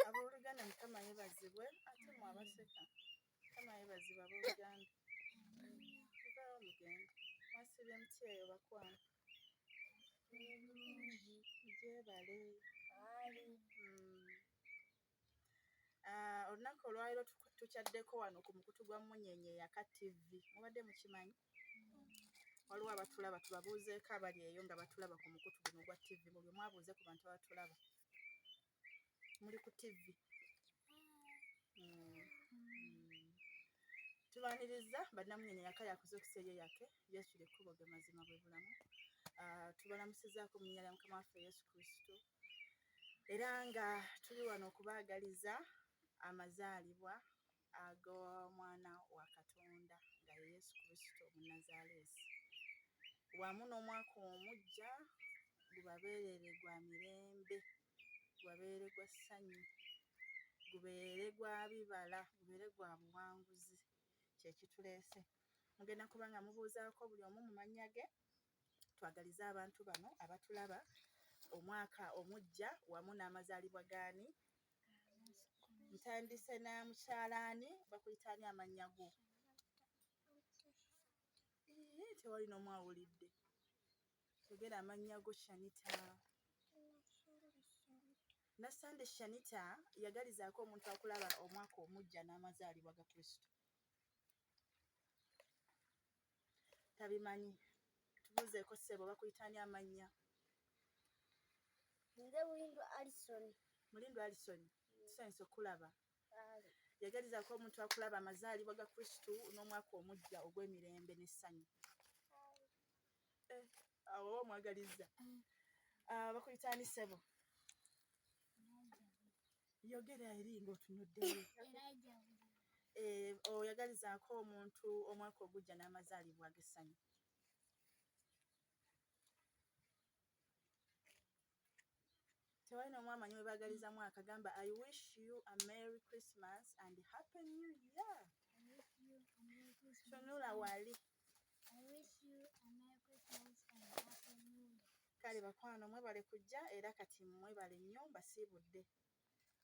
Abooluganda Mukama yebazibwe ate mwe abaseka Mukama yebazibwe abooluganda. Muvaawo mugende mwasibye muti eyo bakwano gyebale. Mm. Ah, olunaku olwaliro tukyaddeko wano ku mukutu gwa munyenye yaka tv mubadde mukimanyi waliwo abatulaba tubabuuzeeko abali eyo nga batulaba ku mukutu guno gwa tv buli omu abuuze ku bantu abatulaba muli ku tv hmm. Hmm. tubaniriza banamunyenye yaka yakuza okuseeyo yake yesu lyekkubo ge mazima bwe bulamu ah, tubalamusizaako mu nnyala ya mukama waffe yesu kristo era nga tuli wano okubaagaliza amazaalibwa ag'omwana wa Katonda nga ye Yesu Kristo Omunnazaaleesi wamu n'omwaka omuggya gubabeerere gwa mirembe, gubabeere gwa ssanyu, gubeere gwa bibala, gubeere gwa buwanguzi kye kituleese. Mugenda kuba nga mubuuzaako buli omu mu mannya ge twagaliza abantu bano abatulaba omwaka omujja wamu n'amazaalibwa gaani ntandise na mukyalaani bakuyitaani amannya go tewali n'omu awulidde togera amannya go shanita nassande shanita yagalizaako omuntu akulaba omwaka omujja n'amazaalibwa ga kristo tabimanyi tubuzeeko ssebo bakuyitani amannya nze mulindu alison mulindu alison tusanyusa okukulaba yagalizaako omuntu akulaba amazaalibwa ga kristu n'omwaka omujja ogw'emirembe n'essanyu eh, awo oba omwagalizza ah, bakuyita ani sebo yogera eri ngaotunuddeyo eh, oyagalizaako omuntu omwaka ogujja n'amazaalibwa agessanyu tewali nomu amanyi webagaliza mwaka gamba i wish you a merry christmas and happy new year tunula wali kale bakwano mwebale kujja era kati mwebale nnyo mbasiibudde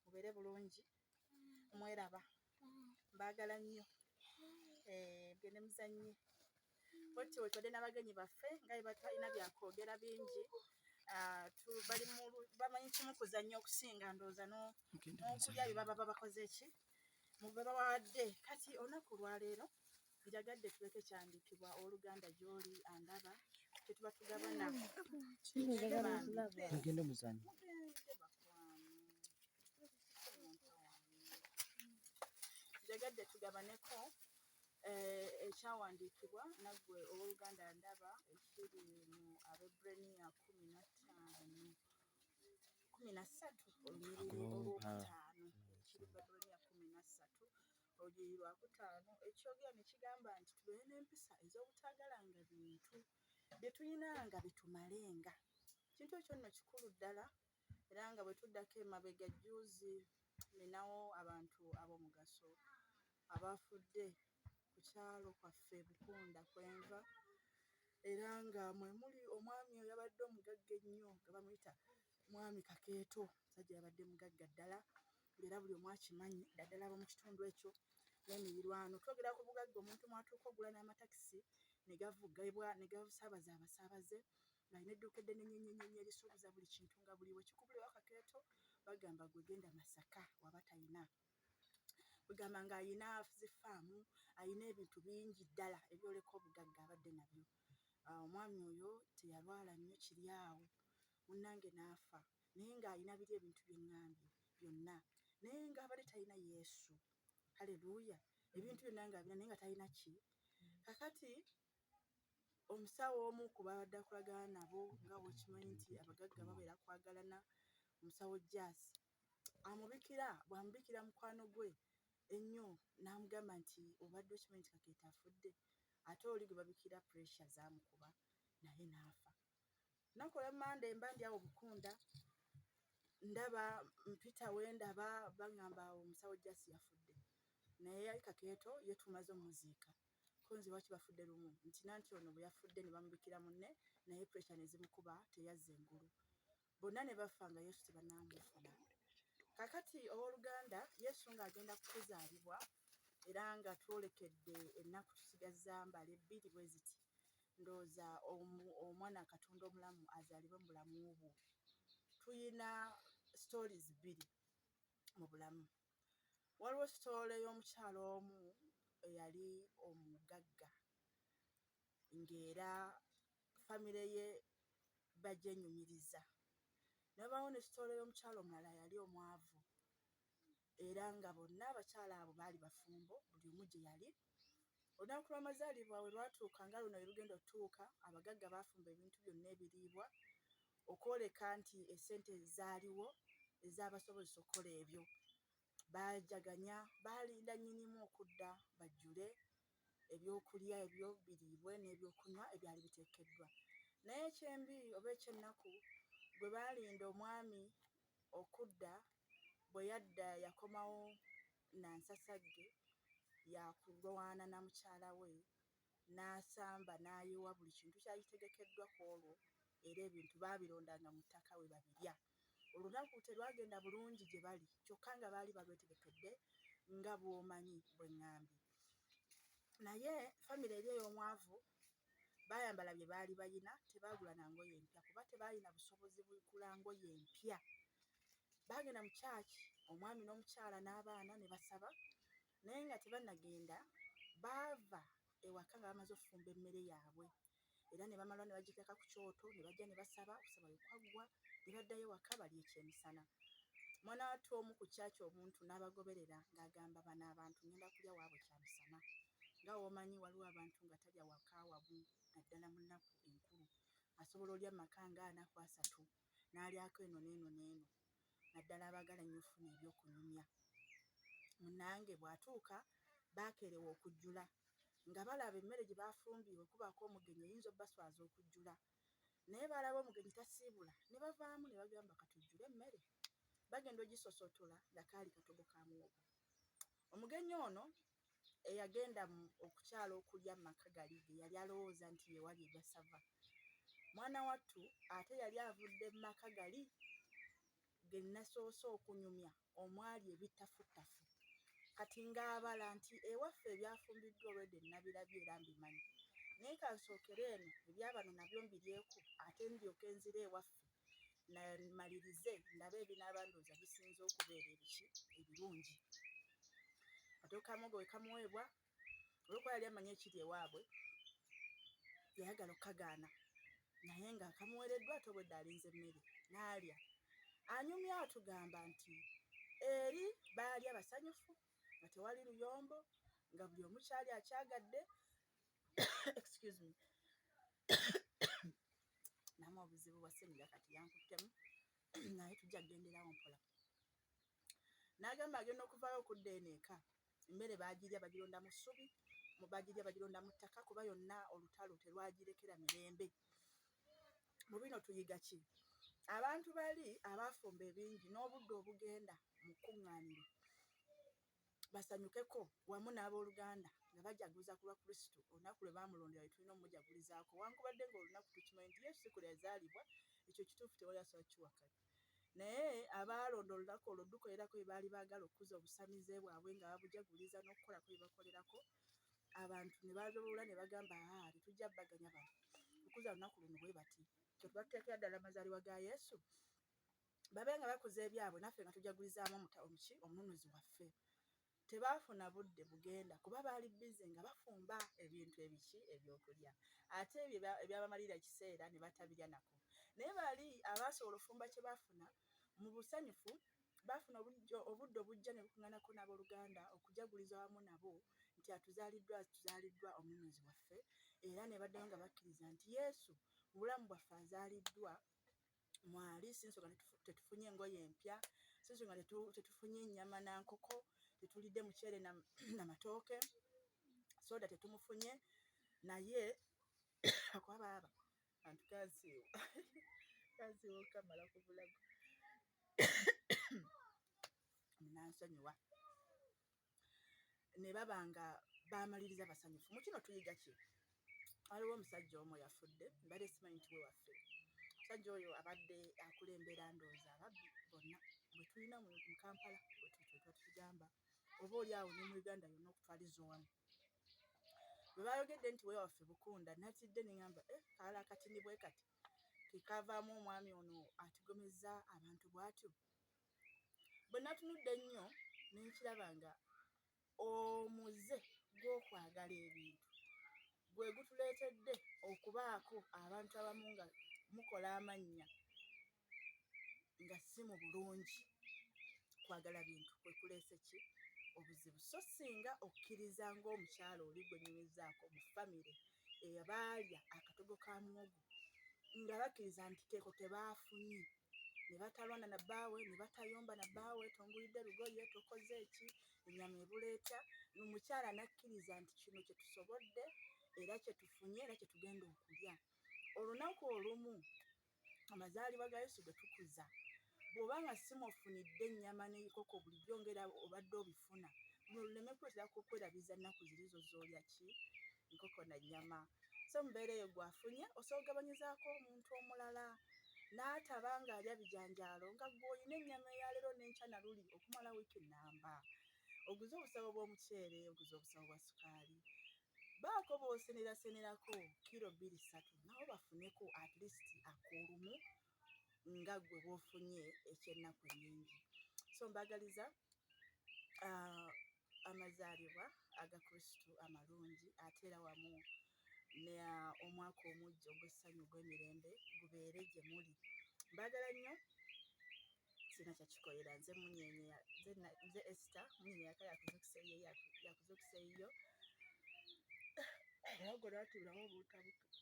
mubeere bulungi mweraba mbaagala nnyo eh, gende muzannye boti wetwadde n'abagenyi baffe nga bebatalina byakwogera bingi ah, bamanyi kimu kuzannya okusinga ndowooza n'okulya bye baba babakoze ki mubebabawadde kati olunaku lwaleero Njagadde tuleke kyandikibwa oluganda gy'oli andaba kyetuba tugabana mugende muzanyo njagadde tugabaneko eh, ekyawandiikibwa naggwe ow'oluganda ndaba ekiri mu abebraniya kumi na ttaano kumi na ssatu olunyiriri olwokutaano kiri babraniya kumi na ssatu Olunyiriri lwakutaano ekyogera ne kigamba nti tubeere n'empisa ez'obutaagalanga bintu bye tulina nga bitumalenga. Ekintu ekyo nno kikulu ddala era nga bwe tuddako emabega jjuuzi ninawo abantu ab'omugaso abaafudde ku kyalo kwaffe Bukunda kwe nva era nga mwe muli omwami eyabadde omugagga ennyo nga bamuyita mwami Kakeeto omusajja yabadde mugagga ddala ng'era buli omu akimanyi ddaddala abo mu kitundu ekyo n'emirirwano twogera ku bugagga omuntu mwatuuka ogula n'amatakisi ne gavugibwa ne gasaabaza abasaabaze ng'alina edduuka eddene nyenyenyenye erisuubuza buli kintu nga buliwo kikubulira wakakeeto bagamba gwe genda masaka waba talina ogamba ng'alina zifaamu alina ebintu bingi ddala ebyoleka obugagga abadde nabyo ah, omwami oyo teyalwala nnyo kiri awo munnange n'afa naye ng'alina biri ebintu bye ŋŋambye byonna naye ng'abadde talina yesu haleluya ebintu byonna ng'abina naye nga talina ki kakati omusawo omu ku babadde akolagana nabo nga bwekimanyi nti abagagga babeera kwagalana omusawo jas amubikira bwamubikira mukwano gwe ennyo n'amugamba nti obadde okimanyi nti kakeeta afudde ate oli gwe babikira pressure zamukuba naye n'afa nakola mande mba ndi awo bukunda ndaba mpita we ndaba baŋŋamba awo omusawo jasi yafudde naye yali kakeeto ye tumaze omuziika kunzi waki bafudde lumu nti nanti ono bwe yafudde ne bamubikira munne naye puresha ne zimukuba teyazza engulu bonna ne bafa nga yesu tebanaamufuna kakati ow'oluganda yesu ng'agenda kukuzaalibwa era nga twolekedde ennaku tusigazza mbale bbiri bwe ziti ndowooza omwana katonda omulamu azaalibwe mu bulamu bwo tuyina stories bbiri mu bulamu waliwo sitoole y'omukyalo omu eyali omugagga ng'era famire ye bagyenyumiriza nabaawo nekitooleyo omukyalo omulala yali omwavu era nga bonna abakyala abo baali bafumbo buli omu gye yali olunaku lw'amazaalibwa we lwatuuka nga luno yerugenda otutuuka abagagga baafumba ebintu byonna ebiriibwa okwoleka nti esente zaaliwo ezabasobozesa okukola ebyo bajaganya baalinda nyinimu okudda bajjule ebyokulya ebyo biriibwe n'ebyokunywa ebyali biteekeddwa. Naye ekyembi oba eky'ennaku gwe baalinda omwami okudda bwe yadda yakomawo na nsasagge ya kulwana na mukyala we n'asamba n'ayiwa buli kintu kyali kitegekeddwa ku olwo era ebintu baabirondanga mu ttaka we babirya. Olunaku terwagenda bulungi gye bali kyokka nga baali balwetegekedde nga bw'omanyi bwe ŋŋambye. Naye famire eri ey'omwavu baayambala bye baali balina, tebaagula na ngoye mpya kuba tebaalina busobozi bugula ngoye mpya. Baagenda mu kyaki omwami n'omukyala n'abaana ne basaba naye nga tebannagenda baava ewaka nga bamaze okufumba emmere yaabwe. era ne bamala ne bagiteeka ku kyoto ne bajja ne basaba okusaba bwe kwaggwa ne baddayo waka balya ekyemisana mwana wattu omu ku kyaki omuntu n'abagoberera ng'agamba bano abantu ngenda kulya waabwe kyamisana nga womanyi waliwo abantu nga talya waka wamu naddala mu nnaku enkulu asobola olya maka nga anaku asatu n'alyako eno n'eno n'eno naddala abaagala ennyo okufuna eby'okunyumya. Munnange bw'atuuka bakeerewa okujjula nga balaba emmere gye baafumbye bwe kubaako omugenyi eyinza obbaswaza okujjula naye baalaba omugenyi tasiibula ne bavaamu ne bagamba ka tujjule emmere. Bagenda ogisosotola nga kaali katogo ka muwogo. Omugenyi ono eyagenda okukyala okulya mu maka gali ge yali alowooza nti ye wali egasava mwana wattu ate yali avudde mu maka gali ge nasoose okunyumya omwali ebittafuttafu kati ng'abala nti ewaffe ebyafumbiddwa olwedde nnabirabye era mbimanyi naye kansookere eno ebyabano nabyo mbiryeku ate ndyoke nzire ewaffe namalirize ndabe ebinaaba ndooza bisinza okubeera ebiki ebirungi atuukamugo wekamuweebwa olwokuba yali amanyi ekiri ewaabwe yayagala okukagaana naye nga akamuwereddwa ate obwedde alinze emmere naalya anyumya atugamba nti eri baalya basanyufu nga tewali luyombo nga buli omukyali akyagadde excuse me namu obuzibu bwa ssenyiga kati yankuttemu naye tujja kugenderawo mpola n'agamba agenda okuvaayo okudda eno eka emmere baagirya bagironda mu ssubi baagirya bagironda mu ttaka kuba yonna olutalo terwagirekera mirembe mu bino tuyiga ki abantu bali abaafumba ebingi n'obudde obugenda mu kkuŋŋaaniro basanyukeko wamu n'abooluganda nga bajaguza ku lwa Kristo olunaku lwe baamulondera lwe tulina omumujagulizaako wankubadde ng'olunaku tukimanyi nti Yesu si kwe yazaalibwa ekyo kituufu tewali asobola kiwakanya naye abaalonda olunaku olwo dukolerako bye baali baagala okukuza obusamize bwabwe nga babujaguliza n'okukolako bye bakolerako abantu ne balowoola ne bagamba aa tetujja baganya bantu okuza olunaku luno bwe bati kyetuba tuteekera ddala amazaalibwa ga Yesu babe nga bakoze ebyabwe naffe nga tujagulizaamu omutabo muki omununuzi waffe tebaafuna budde bugenda kuba baali bize nga bafumba ebintu ebiki ebyokulya ate ebyo ebyabamalira ekiseera ne batabirya nako naye baali abaasobola ofumba kye baafuna mu busanyufu baafuna obudde obujja ne bukuŋanako n'abooluganda okujaguliza wamu nabo nti atuzaaliddwa tuzaaliddwa omununuzi waffe era ne baddayo nga bakkiriza nti yesu mu bulamu bwaffe azaaliddwa mwali sinsonga tetufunye engoye empya sinsonga tetufunye ennyama na nkoko tetulidde muceere na matooke soda tetumufunye naye akuba baaba antu kansiiwa kansiiwa okamala ku bulago munansonyiwa ne baba nga baamaliriza basanyufu mu kino tuyiga ki waliwo omusajja omu yafudde mbadde simanyi nti we waffe omusajja oyo abadde akulembera ndooza ababbi bonna bwe tulina mu kampala bwetutwetwa tukigamba oba oli awo ne mu uganda yonna okutwaliza owamu bwe baayogedde nti we waffe bukunda natidde ne ŋamba eh, kaala akatini bwe kati kekavaamu omwami ono atigomeza abantu bw'atyo bwe natunudde ennyo ne nkiraba nga omuze gw'okwagala ebintu gwe gutuleetedde okubaako abantu abamu nga mukola amannya nga si mu bulungi kwagala bintu kwe kuleese ki obuzibu so singa okkiriza ng'omukyala oli gwe nyumizaako mu famire eyabaalya akatogo ka muwogo nga bakkiriza nti keeko ke baafunye ne batalwana na bbaawe ne batayomba na bbaawe tongulidde lugoye tokoze eki ennyama ebula etya omukyala n'akkiriza nti kino kye tusobodde era kye tufunye era kye tugenda okulya olunaku olumu amazaalibwa ga yesu ge tukuza bw'oba nga simwofunidde ennyama n'enkoko bulijjo ngera obadde obifuna luno luleme kukwerabiza nnaku zirizo zoolya ki nkoko na nnyama so mubeera eyo gwafunye osobola okugabanyizaako omuntu omulala n'ataba ng'alya bijanjaalo nga gwe olina ennyama eyaleero n'enkya na luli okumala wiiki nnamba oguze obusawo bw'omuceere oguze obusawo bwa sukaali baako boosenerasenerako kiro bbiri ssatu nawo bafuneko at least akoolumu nga gwe bwofunye ekyennaku nyingi so mbagaliza uh, amazaalibwa aga kristu amalungi ate era wamu ne ah, omwaka omujja ogw'essanyu ogw'emirembe gubeere gye muli mbagala nnyo sina kyakikolera nze munyenye nze esta munyenye yaka yakuzukiseyo yakuzukiseyo era ogwo lwatibulamu obuuta bututte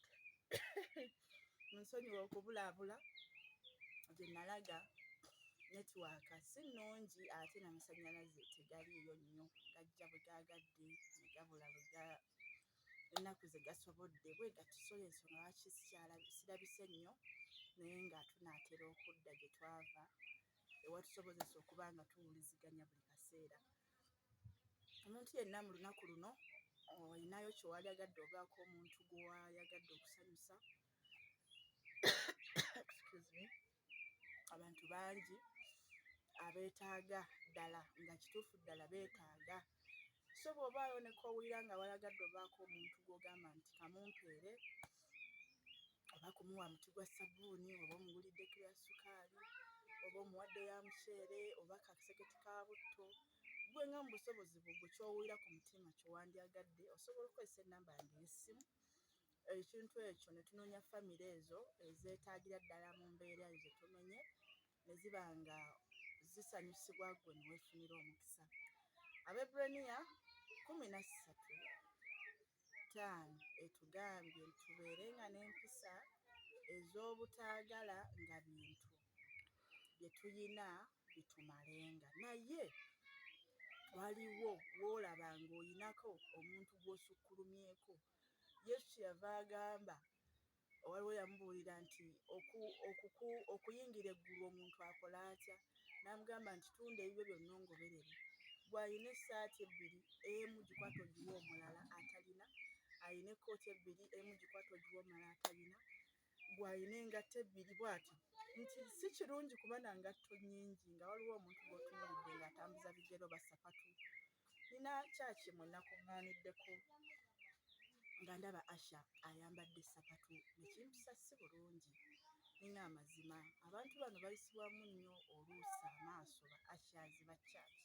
munsonyiwa okubulaabula gye nalaga netiwaaka si nnungi ate namasannyalaze tegaliiyo nnyo gajja bwe gaagadde ne gabula bwe ennaku ze gasobodde bwe gatusola ensonga lwaki sirabise nnyo naye nga tunaatera okudda gye twava ewatusobozesa okuba nga tuwuliziganya buli kaseera omuntu yenna mu lunaku luno olinayo kyewalyagadde obaako omuntu gwewayagadde okusanyusa abantu bangi abeetaaga ddala nga kituufu ddala beetaaga so bw'oba ayoneka owulira nga walagadde obaako omuntu gw'ogamba nti kamumpeere oba kumuwa muti gwa ssabbuuni oba omugulidde kiro ya ssukaali oba omuwadde ya muceere oba kaseketi ka butto gwe nga mu busobozi bwo gwe kyowulira ku mutima kyewandyagadde osobola okukozesa ennamba yange ey'essimu ekintu ekyo ne tunoonya famire ezo ezeetaagira ddala mu mbeera ezo zetumenye ne ziba nga zisanyusibwa gwe ne weefunira omukisa abebraniya kumi na ssatu ttaano etugambye nti tubeere nga n'empisa ez'obutaagala nga bintu bye tulina bitumalenga naye waliwo woolaba ng'oyinako omuntu gw'osukkulumyeko yesu kyeyava agamba waliwo yamubuulira nti okuyingira eggulu omuntu akola atya n'amugamba nti tunda ebibyo byonna ongoberere gw'alina essaati ebbiri emu gikwata ogiwa omulala atalina alina ekkooti ebbiri emu gikwata ogiwa omulala atalina gw'alina engatto ebbiri bw'atyo nti si kirungi kuba na ngatto nnyingi nga waliwo omuntu gw'otunuulidde ng'atambuza bigero basapatu nina kyaki mwenakuŋŋaaniddeko nga ndaba Asha ayambadde ssapatu ne kimpisa si bulungi. Nina amazima abantu bano bayisibwamu nnyo oluusi amaaso ba Ashas ba church.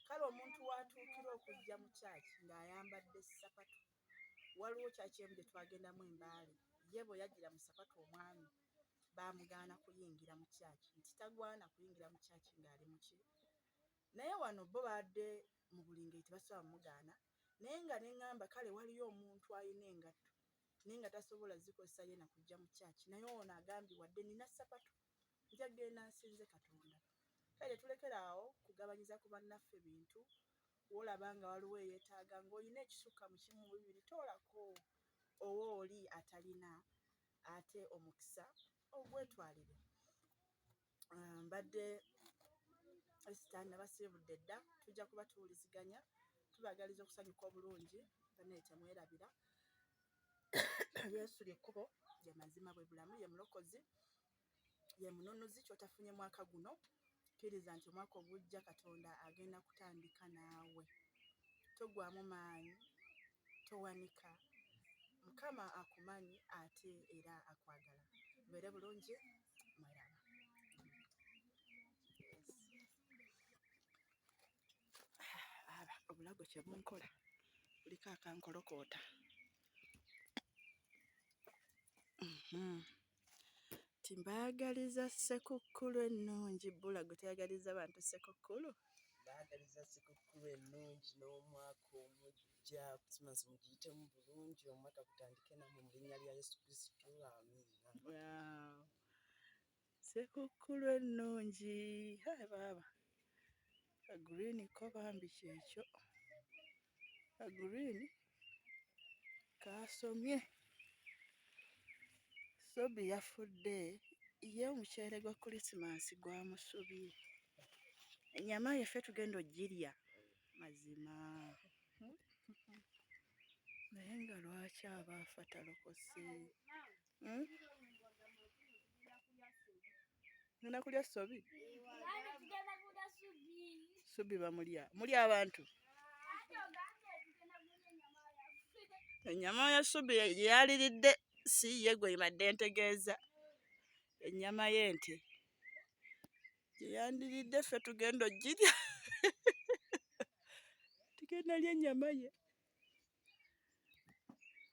Kale omuntu w'atuukira okujja mu church ng'ayambadde ssapatu. Waliwo church emu gye twagendamu e Mbale, ye bwe yajjira mu ssapatu omwami baamugaana kuyingira mu church nti tagwana kuyingira mu church ng'ali mu ki? Naye wano bo baadde mu buli ngeri tebasobola mugaana naye nga ne ŋŋamba kale waliyo omuntu alina engatto naye nga tasobola zikozesa ye na kujja mu kyaki naye ono agambye wadde nina ssapatu nja genda nsinze Katonda. Kale tetulekera awo kugabanyiza ku bannaffe bintu wolaba nga waliwo eyeetaaga ng'olina ekisukka mu kimu mu bibiri toolako owo oli atalina ate omukisa ogwetwalire. ah, mbadde esitaani nabasiibudde dda tujja kuba tuwuliziganya tubagaliza okusanyuka obulungi banaye temwerabira yesu lyekkubo lyemazima bwe bulamu ye mulokozi ye mununuzi kyotafunye mwaka guno kkiriza nti omwaka ogujja katonda agenda kutandika naawe togwamu maanyi towanika mukama akumanyi ate era akwagala beere bulungi obulago kye bunkola buliko akankolokoota mhm. timbaagaliza ssekukkulu ennungi bulago teyagaliza bantu ssekukkulu baagaliza ssekukkulu ennungi n'omwaka omujja Ejja Christmas mugiyitemu bulungi omwaka gutandike namwe mu linnya lya Yesu Kristo amiina. Wow. Sekukkulu ennungi hai baaba green ko bambi kyekyo green kaasomye sobi yafudde ye omuceere gwa kulisimansi gwamusubye enyama yeffe tugenda ogirya mazima naye nga lwaki aba afa talokose hmm? ngenda kulya sobi subi bamulya muli abantu enyama ya subi yeyaliridde si ye gwe ibadde ntegeeza enyama y'ente gye yandiridde ffe tugenda ogirya tugenda lya ennyama ye